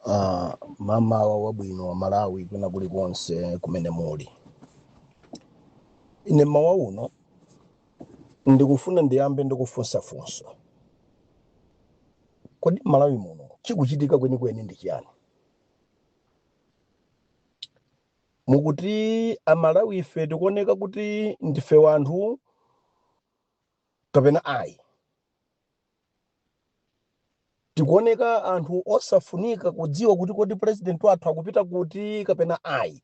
Uh, mmawa wabwino amalawi kwina kulikonse kumene muli ine mmawa uno ndikufuna ndiyambe ndikufunsa funso kodi mmalawi muno chikuchitika kwenikweni ndi chiyani mukuti amalawi ife tikuoneka kuti ndife wanthu kapena ayi tikuoneka anthu osafunika kudziwa kuti kodi president wathu akupita kuti kapena ayi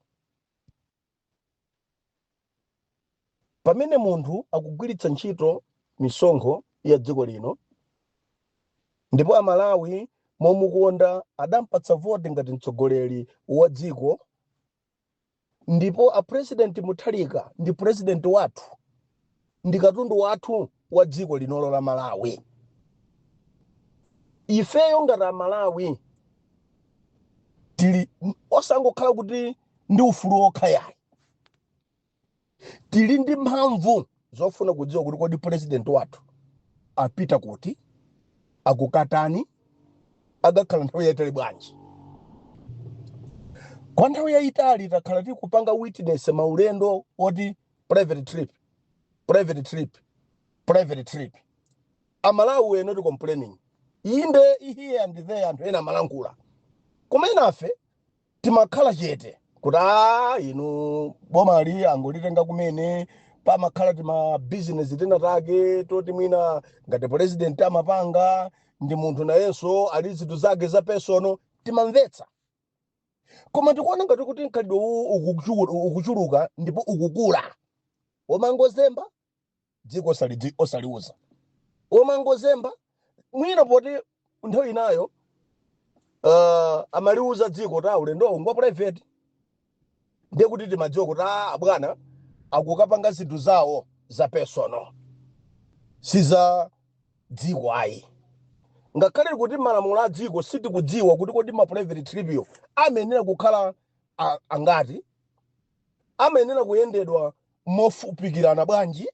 pamene munthu akugwiritsa ntchito misonkho ya dziko lino ndipo amalawi momukonda adampatsa voti ngati mtsogoleri wa dziko ndipo a president mutharika ndi president wathu ndi katundu wathu wa dziko linolo la malawi ifeyo ngati amalawi tili osangokhala kuti ndi ufulu wokha yayi tili ndi mphamvu zofuna kudziwa kuti kodi purezidenti wathu apita kuti akukatani akakhala nthawi yaitali bwanji kwa nthawi yaitali takhala tikupanga witness maulendo oti private trip private trip private trip amalawi were not complaining inde here and there anthu ena amalankhula koma enafe timakhala chete kuti a inu bomali angolitenga kumene pamakhala tima business tina take toti mwina ngati president amapanga ndi munthu nayenso ali ndi zinthu zake za personal timamvetsa koma tikuona ngati kuti mkhalidwe uwu ukuchu- ukuchuluka ndipo ukukula omangozemba dziko osalidzi osaliuza omangozemba mwina poti nthawi inayo uh, amaliuza dziko kuti ulendowo ngwa private ndiye kuti timadziwa kuti a abwana akukapanga zinthu zawo za personal si za dziko ayi ngakhale kuti malamulo a dziko sitikudziwa kuti kodi ma private trip yo amayenera kukhala a- angati amayenera kuyendedwa mofupikirana bwanji?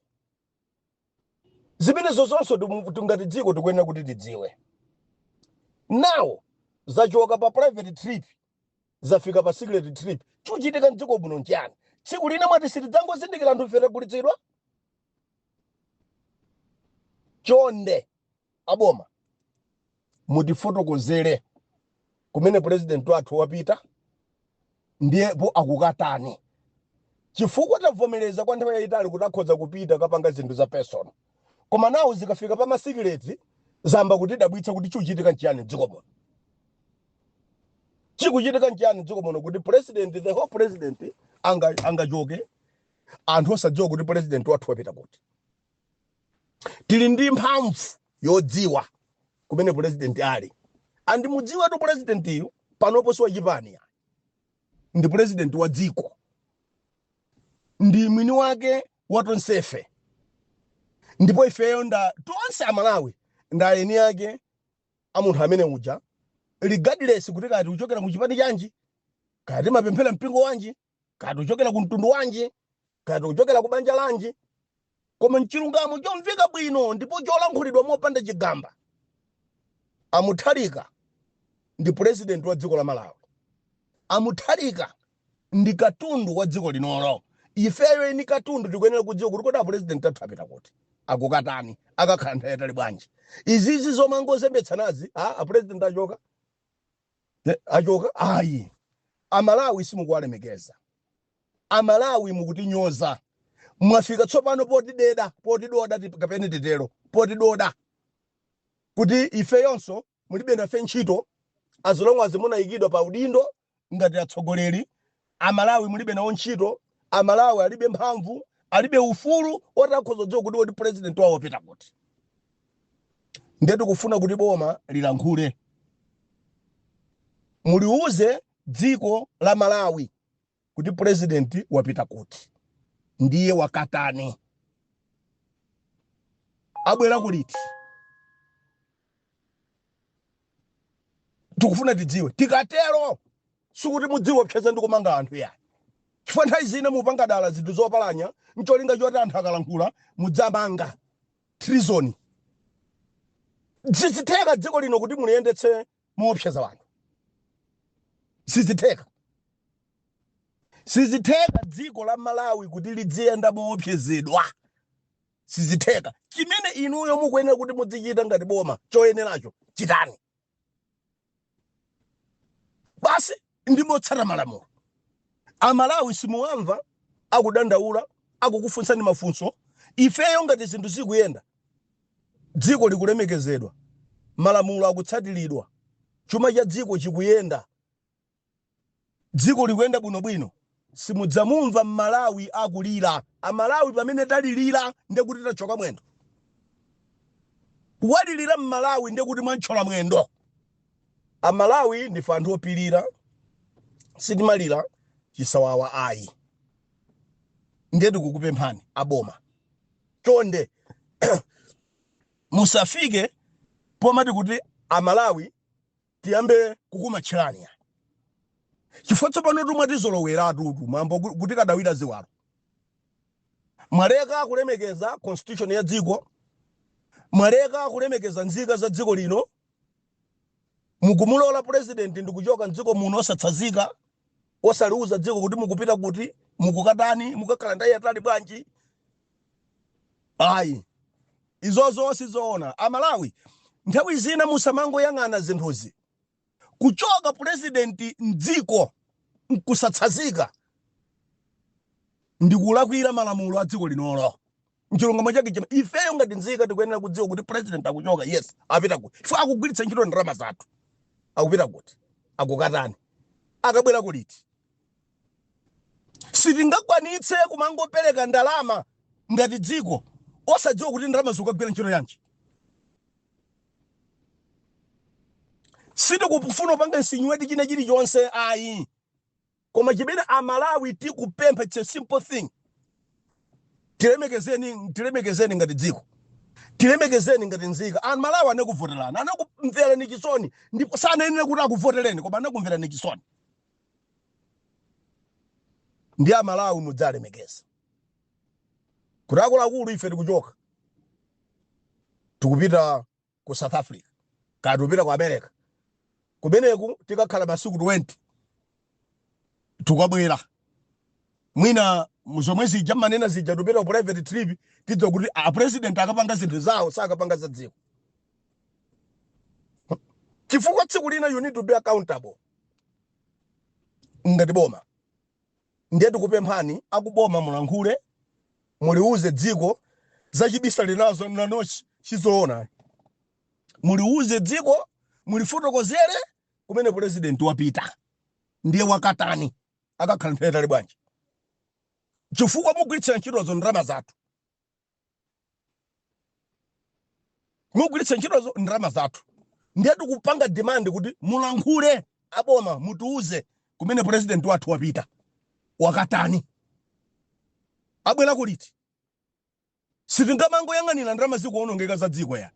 Zimenezozonso timu- ti- ngati dziko tikuyenera kuti tidziwe. Now zachoka pa private trip zafika pa secret trip. Chikuchitika mdziko muno nchiyani? Tsiku lina mwati sitidzangozindikira anthu ife tagulitsidwa? Chonde aboma mutifotokozere kumene president wathu wapita ndipo akukatani chifukwa tavomereza kwa nthawi yayitali kuti akhoza kupita kukapanga zinthu za personal koma now zikafika pa ma secrets zayamba kutidabwitsa kuti chikuchitika nchiyani mdziko muno chikuchitika nchiyani mdziko muno kuti president the whole president anga- angachoke anthu osadziwa kuti president wathu wapita kuti tili ndi mphamvu yodziwa kumene pulezidenti ali and mudziwetu pulezidentiyu panopo si wachipani yayi ndi pulezidenti wa dziko ndi mwini wake wa tonsefe ndipo ifeyo nda tonse amalawi nda eni ake a munthu amene uja regardless kuti kaya tikuchokera mu chipani chanji kaya timapemphera mpingo wanji kaya tikuchokera ku mtundu wanji kaya tikuchokera ku banja lanji koma mchilungamo chomveka bwino ndipo cholankhulidwa mopanda chigamba a Mutharika ndi purezidenti wa dziko la malawi a Mutharika ndi katundu wa dziko linolo ifeyo eni katundu tikuyenera kudziwa kuti kodi apurezidenti athu apita kuti akukatani akakhala nthawi yayitali bwanji izizi zomangozembetsanazi a apurezidenti achoka achoka ayi amalawi simukuwalemekeza amalawi mukutinyoza mwafika tsopano potideda potidoda tip- kapena titero potidoda kuti ifeyonso mulibe nafe ntchito as long as munayikidwa pa udindo ngati atsogoleri Amalawi mulibe nawo ntchito, amalawi alibe mphamvu, alibe ufulu oti akhoza kudziwa kuti kodi president wawo wapita kuti. Ndiye tikufuna kuti boma lilankhule, muliuze dziko la Malawi kuti president wapita kuti, ndiye wakatani, abwerako liti. tikufuna tidziwe tikatero sikuti mudziwopseza ndi kumanga anthu yayi chifukwa nthawi zina mupanga dala zinthu zopalanya ncholinga choti anthu akalankhula mudziwamanga treason sizitheka dziko lino kuti muliyendetse moopseza anthu sizitheka sizitheka dziko la malawi kuti lidziyenda moopsezedwa sizitheka. Chimene inuyo mukuyenera kuti mudzichita ngati boma choyeneracho chitani basi, ndi motsata malamulo. Amalawi simuwamva akudandaula, akukufunsani mafunso. Ifeyo ngati zinthu zikuyenda, dziko likulemekezedwa, malamulo akutsatiridwa, chuma cha dziko chikuyenda, dziko likuyenda bwino bwino simudzamumva mmalawi akulira amalawi pamene talilira ndekuti tatchyoka mwendo walilira mmalawi ndekuti mwamtchola mwendo amalawi ndife anthu opilira sitimalira chisawawa ayi ndiye tikukupemphani aboma chonde musafike pomati kuti amalawi tiyambe kukumatchirani ayi chifukwa tsopanotu mwatizoloweratutu mambo kuti kadwalira ziwalo mwaleka kulemekeza constitution ya dziko mwaleka kulemekeza nzika za dziko lino mukumulola president ndikuchoka mdziko muno osatsazika osaliuza dziko kuti mukupita kuti mukukatani mukakhala nthawi yaitali bwanji Ayi, izozo sizoona. A Malawi nthawi zina musamangoyang'ana zinthuzi. Kuchoka president m'dziko nkusatsazika ndi kulakwira malamulo a dziko linolo. Nchilungamo chake chimene ifeyo ngati nzika tikuyenera kudziwa kuti president akuchoka, yes, apita kuti chifukwa akugwiritsa ntchito ndalama zathu. Akupita kuti akukatani, akabwerako liti? Sitingakwanitse kumangopeleka ndalama ngati dziko osadziwa kuti ndalamazo zikukagwira ntchito yanji. Sitikufuna kupanga insinuate china chilichonse ayi koma chimene a Malawi tikupempha its a simple thing, tilemekezeni tilemekezeni ngati dziko, tilemekezeni ngati nzika. A Malawi anakuvotelani, anakumverani chisoni ndipo sanayenera kuti akuvoteleni koma anakumverani chisoni. ndiye amalawi mudziwalemekeza kuti akuluakulu ife tikuchoka tikupita ku south africa kaya tikupita ku america kumeneko tikakhala masiku 20 tikabwera mwina zomwe zija mmanena zija tikupita ku private trip tidziwa kuti a president akapanga zinthu zawo sakapanga za dziko chifukwa tsiku lina you need to be accountable ngati boma ndiye tikupemphani akuboma mulankhule muliuze dziko zachibisalirazo mmanochi sizoona muliuze dziko mulifotokozere kumene pulezidenti wapita ndiye akatani akakhala nthawi yaitali bwanji chifukwa mugwiritsira ntchitozo ndalama zathu mugwiritsa ntchito ndalama zathu ndiye tikupanga demand kuti mulankhule aboma mutiuze kumene president wathu wapita wakatani abwera kuliti sitingamangoyang'anira ndalama zikuonongeka za dziko ya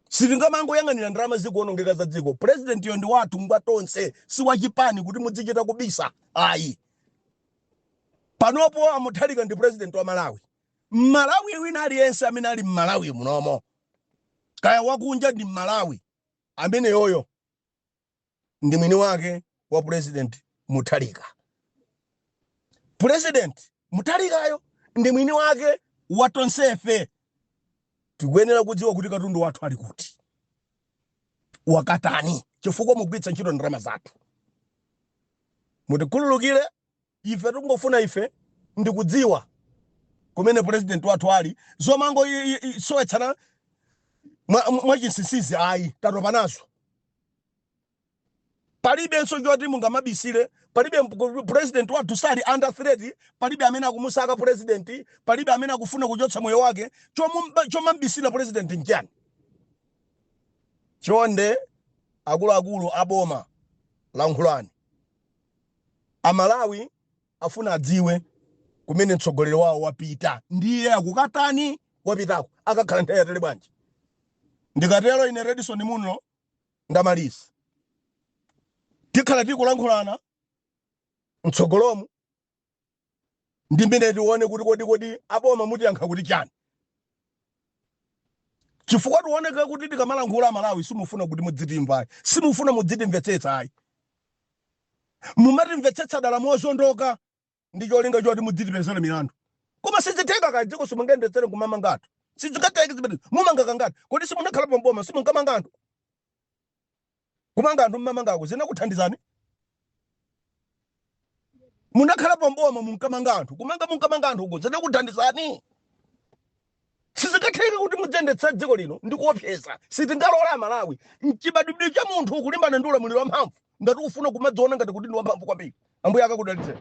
sitingamangoyang'anira ndalama zikuonongeka za dziko president yo ndi wathu ngwa tonse si wachipani kuti mudzichita kubisa ayi Panopo a Mutharika ndi president wa Malawi. Mmalawi wina aliyense amene ali Mmalawi munomo kaya wakunja ndi Mmalawi ameneyoyo ndi mwini wake wa president Mutharika. President Mutharikayo ndi mwini wake wa tonsefe. Tikuyenera kudziwa kuti katundu wathu ali kuti. wakatani chifukwa mugwiritsa ntchito ndalama zathu mutikhululukire ife tikungofuna ife ndikudziwa kumene president wathu ali zomango i- i- i- sowetsana mwa- mwa chinsinsizi ayi tatopa nazo Palibenso choti mungamabisile, palibe president wathu sali under threat, palibe amene akumusaka president, palibe amene akufuna kuchotsa moyo wake, chomambisila president nchiyani? Chonde akuluakulu a boma lankhulani, a Malawi afuna adziwe kumene mtsogoleri wawo wapita, ndiye akukatani, wapitako akakhala nthawi yaitali bwanji? Ndikatero ine Redson Munlo Ndamaliza. Tikhala tikulankhulana mtsogolomu ndi mmene tione kuti kodi kodi aboma mutiyankha kuti chani. Chifukwa tikuoneka kuti tikamalankhula Amalawi simufuna kuti mudzitimva ayi. Simufuna mudzitimvetsetsa ayi. Mumatimvetsetsa dala mozondoka. ndi cholinga choti mudzitipezera milandu koma sizitheka ka dziko simungayendetsere kumamanga anthu sizingatheke zimene mumanga kangati kodi simunakhala pamboma simunkamanga anthu kumanga anthu mmamangako zinakuthandizani munakhala pamboma munkamanga anthu kumanga munkamanga anthu uko zinakuthandizani Sizingatheke kuti mudziyendetsa dziko lino ndi kuopseza. Sitingalole Amalawi. N'chibadwidwe cha munthu kulimbana ndi ulamuliro wamphamvu ngati ukufuna kumadziona ngati kuti ndi wamphamvu kwambiri. Ambuye akakudalitseni.